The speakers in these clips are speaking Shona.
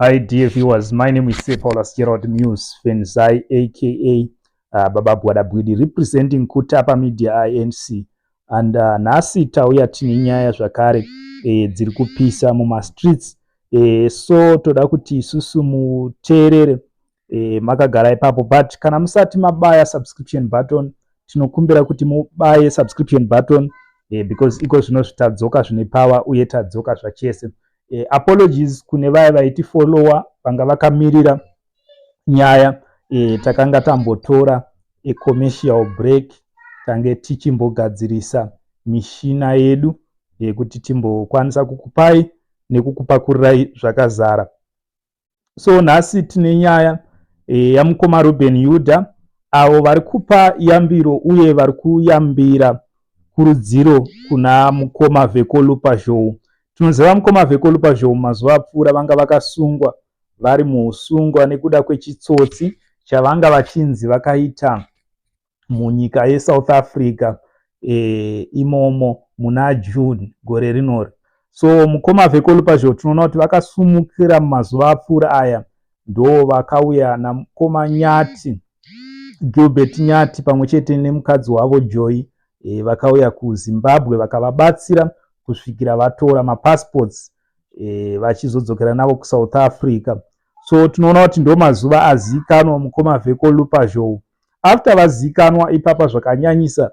Hi dear viewers, my name is Sir Paulus Gerald Muse Fenzai aka uh, Baba Gwada Bwidi representing Kutapa Media INC and uh, nhasi tauya tine nyaya zvakare e, dziri kupisa mumastreets e, so toda kuti isusu muteerere e, makagara ipapo but kana musati mabaya subscription button tinokumbira kuti mubaye subscription button e, because iko zvino zvitadzoka zvine power uye tadzoka zvachese e, apologies kune vaya vaiti follower vanga vakamirira nyaya e, takanga tambotora e, commercial break tange tichimbogadzirisa mishina yedu yekuti timbokwanisa kukupai nekukupakururai zvakazara so nhasi tine nyaya e, yamukoma ruben yuda avo vari kupa yambiro uye vari kuyambira kurudziro kuna mukoma vekolupa zhou tinoziva mukoma vekolupa zhou mazuva apfuura vanga vakasungwa vari muusungwa nekuda kwechitsotsi chavanga vachinzi vakaita munyika yesouth africa e, imomo muna june gore rinori so mukoma vekolupazho tinoona kuti vakasumukira mumazuva apfuura aya ndo vakauya namukoma nyati gilbert nyati pamwe chete nemukadzi wavo joy e, vakauya kuzimbabwe vakavabatsira kusvikira vatora mapassports e, vachizodzokera navo kusouth africa so tinoona kuti ndo mazuva aziikanwa mukoma vheko lupazhou after vaziikanwa ipapa zvakanyanyisa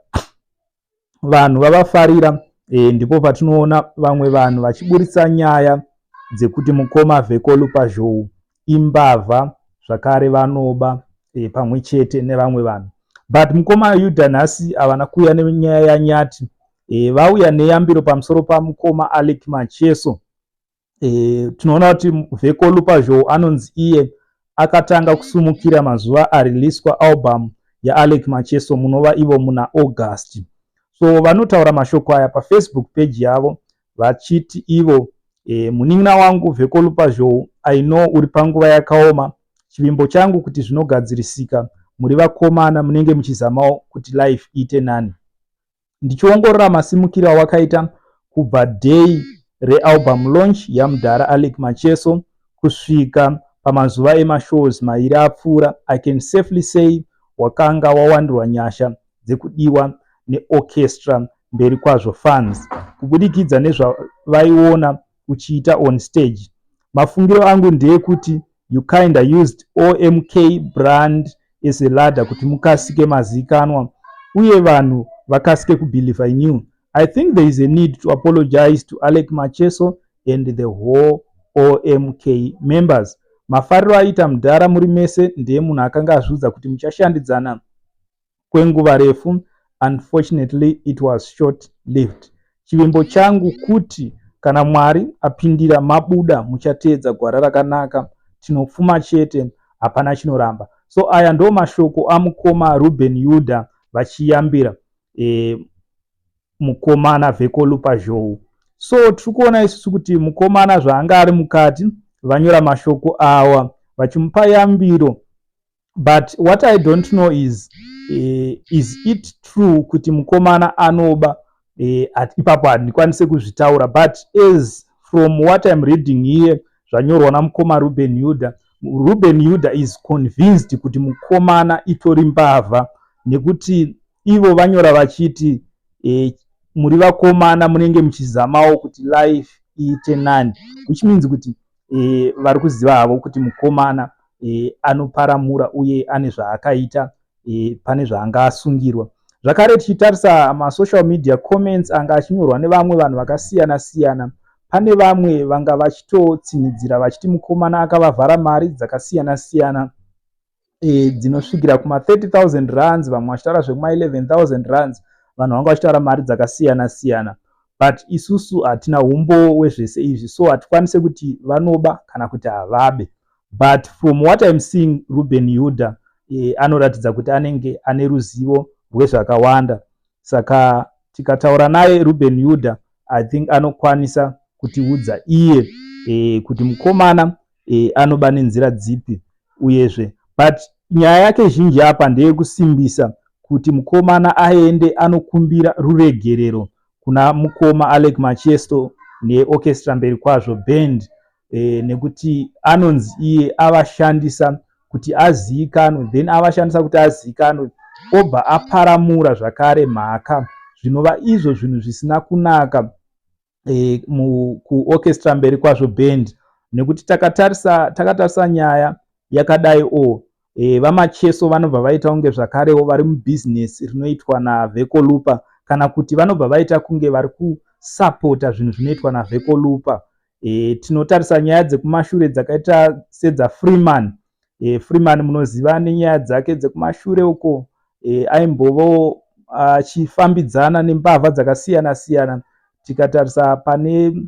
vanhu vavafarira e, ndipo patinoona vamwe vanhu vachiburitsa nyaya dzekuti mukoma vheko lupazhou imbavha zvakare vanoba e, pamwe chete nevamwe vanhu but mukoma yuda nhasi havana kuuya nenyaya yanyati e, vauya neyambiro pamusoro pamukoma alec macheso e, tinoona kuti vekolu pazhou anonzi iye akatanga kusumukira mazuva ariliswa album yaalec macheso munova ivo muna august so vanotaura mashoko aya pafacebook page yavo vachiti ivo e, munin'ina wangu vekolu pazhou i know uri panguva yakaoma chivimbo changu kuti zvinogadzirisika muri vakomana munenge muchizamawo kuti life iite nani ndichiongorora masimukiro awakaita kubva day realbum launch yamudhara alec macheso kusvika pamazuva emashows mairi apfuura i can safely say wakanga wawandirwa nyasha dzekudiwa neorchestra mberi kwazvo fans kubudikidza nezvavaiona uchiita on stage mafungiro angu ndeekuti you kinda used omk brand as a ladder kuti mukasike mazikanwa uye vanhu vakasike kubelieve in you i think there is a need to apologize to alec macheso and the whole omk members mafariro aiita mudhara muri mese ndiye munhu akanga azviudza kuti muchashandidzana kwenguva refu unfortunately it was short lived chivimbo changu kuti kana mwari apindira mabuda muchateedza gwara rakanaka tinopfuma chete hapana chinoramba so aya ndo mashoko amukoma ruben yuda vachiyambira e, mukomana vekolupa zhou so tiri kuona isusu kuti mukomana zvaanga ari mukati vanyora mashoko awa vachimupa yambiro but what i don't know is uh, is it true kuti mukomana anoba eh, at ipapo handikwanise kuzvitaura but as from what im reading here zvanyorwa namukoma ruben yuda ruben yuda is convinced kuti mukomana itori mbavha nekuti ivo vanyora vachiti eh, muri vakomana munenge muchizamawo kuti life iite nani which means kuti e, vari kuziva havo kuti mukomana e, anoparamura uye ane zvaakaita e, pane zvaanga asungirwa zvakare tichitarisa masocial media comments anga achinyorwa nevamwe vanhu vakasiyana siyana pane vamwe vanga vachitotsinhidzira vachiti mukomana akavavhara mari dzakasiyana siyana e, dzinosvikira kuma 30000 rands vamwe vachitaura zvekuma 11000 rands vanhu vanga vachitaura mari dzakasiyana siyana but isusu hatina umbo wezvese izvi so hatikwanise kuti vanoba kana kuti havabe but from what im seeing ruben yuda e, anoratidza kuti anenge ane ruzivo rwezvakawanda saka tikataura naye ruben yuda i think anokwanisa kutiudza iye e, kuti mukomana e, anoba nenzira dzipi uyezve but nyaya yake zhinji apa ndeyekusimbisa kuti mukomana aende anokumbira ruregerero kuna mukoma alec machesto neorchestra mberi kwazvo band e, nekuti anonzi iye avashandisa kuti aziikanwe then avashandisa kuti aziikanwe obva aparamura zvakare mhaka zvinova izvo zvinhu zvisina kunaka e, mu, kuorchestra mberi kwazvo band nekuti takatarisa takatarisa nyaya yakadai o oh, e, vamacheso vanobva vaita kunge zvakarewo vari mubusiness rinoitwa navhekolupa kana kuti vanobva vaita kunge vari kusapota zvinhu zvinoitwa navhekolupa e, tinotarisa nyaya dzekumashure dzakaita sedzafreeman e, freeman munoziva nenyaya dzake dzekumashure uko e, aimbovawo achifambidzana nembavha dzakasiyana siyana tikatarisa pane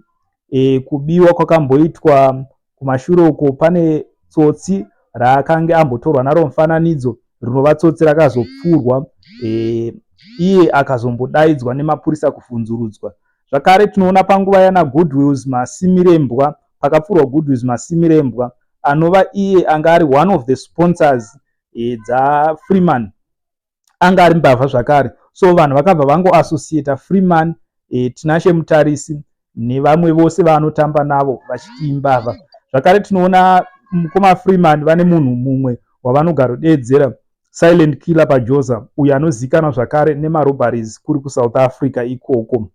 e, kubiwa kwakamboitwa kumashure uko pane tsotsi raakange ambotorwa naro mufananidzo rinova tsotsi rakazopfurwa e, iye akazombodaidzwa nemapurisa kuvhunzurudzwa zvakare tinoona panguva yana goodwills masimirembwa pakapfurwa Goodwiz Masimirembwa anova iye anga ari one of the sponsors e, dzaFreeman anga ari mbavha zvakare so vanhu vakabva vangoassociata Freeman e, Tinashe Mutarisi nevamwe vose vaanotamba navo vachiti imbavha zvakare tinoona mukoma Freeman vane munhu mumwe wavanogarodeedzera silent killer pajoza uyo anozivikanwa zvakare nemarobaries kuri kusouth africa ikoko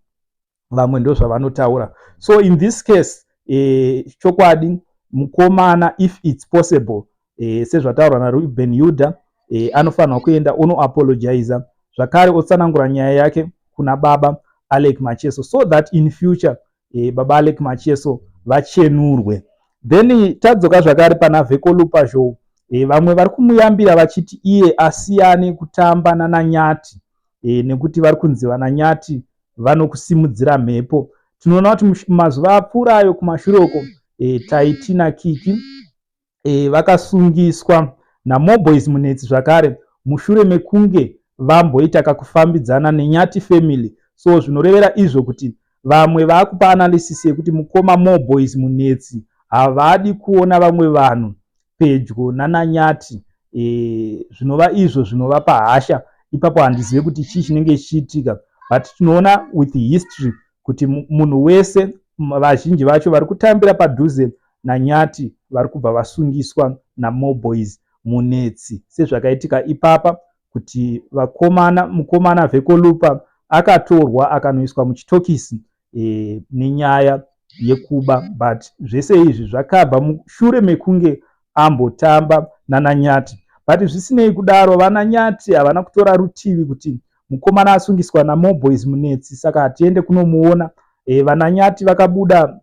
vamwe ndozvavanotaura so in this case eh, chokwadi mukomana if its possible eh, sezvataurwa naruben yuda eh, anofanirwa kuenda onoapologiza zvakare otsanangura nyaya yake kuna baba alec macheso so that in future eh, baba alec macheso vachenurwe then tadzoka zvakare pana vekolupa zhou eh, vamwe vari kumuyambira vachiti iye asiyane kutamba nananyati eh, nekuti vari kunzi vananyati vanokusimudzira mhepo tinoona kuti mazuva apfuura ayo kumashure uko e, taiti nakiki e, vakasungiswa namoboys munetsi zvakare mushure mekunge vamboita kakufambidzana nenyati family so zvinorevera izvo kuti vamwe vakupa analysis yekuti mukoma moboys munetsi havadi kuona vamwe vanhu pedyo nananyati e, zvinova izvo zvinovapa hasha ipapo handizive kuti chii chinenge chichiitika but tinoona with history kuti munhu wese vazhinji vacho vari kutambira padhuze nanyati vari kubva vasungiswa namoboys munetsi sezvakaitika ipapa kuti vakomana mukomana vekolupa akatorwa akanoiswa muchitokisi e, nenyaya yekuba but zvese izvi zvakabva mushure mekunge ambotamba nananyati but zvisinei kudaro vananyati havana kutora rutivi kuti mukomana asungiswa namoboys munetsi saka hatiende kunomuona e, vananyati vakabuda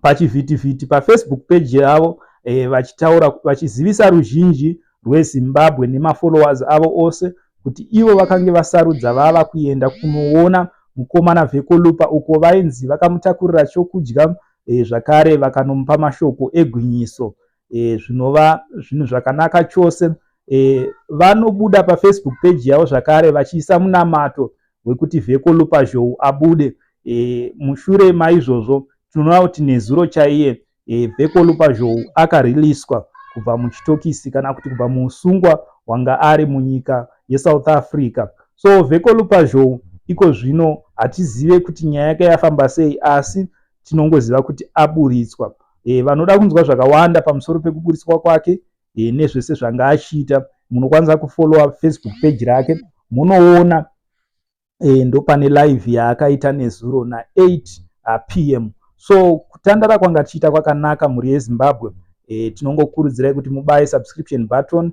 pachivhitivhiti pafacebook page yavo eh, vachitaura vachizivisa ruzhinji rwezimbabwe nemafollowers avo ose kuti ivo vakange vasarudza vava kuenda kunoona mukomana vhekolupa uko vainzi vakamutakurira chokudya eh, zvakare vakanomupa mashoko egwinyiso e, zvinova zvinhu zvakanaka chose e, vanobuda pafacebook page yavo zvakare vachiisa munamato wekuti vheko lupazhou abude e, mushure maizvozvo tinoona kuti nezuro chaiye e, vheko lupazhou akariliswa kubva muchitokisi kana kuti kubva muusungwa wanga ari munyika yesouth africa so vheko lupazhou iko zvino hatizive kuti nyaya yake yafamba sei asi tinongoziva kuti aburitswa e, vanoda kunzwa zvakawanda pamusoro pekuburitswa kwake e, nezvese zvanga achiita munokwanisa kufollowa facebook page rake munoona e, ndopane live yaakaita nezuro na 8 ah, pm so kutandara kwanga tichiita kwakanaka mhuri yezimbabwe e, tinongokurudzirai kuti mubaye subscription button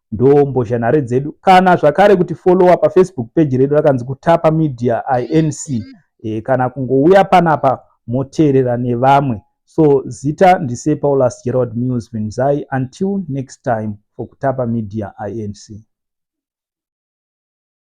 ndoo mbozhanhare dzedu kana zvakare kuti follower pafacebook page redu rakanzi kutapa media inc e, kana kungouya panapa moteerera nevamwe so zita ndise paulus gerald mills vinzai until next time for kutapa media inc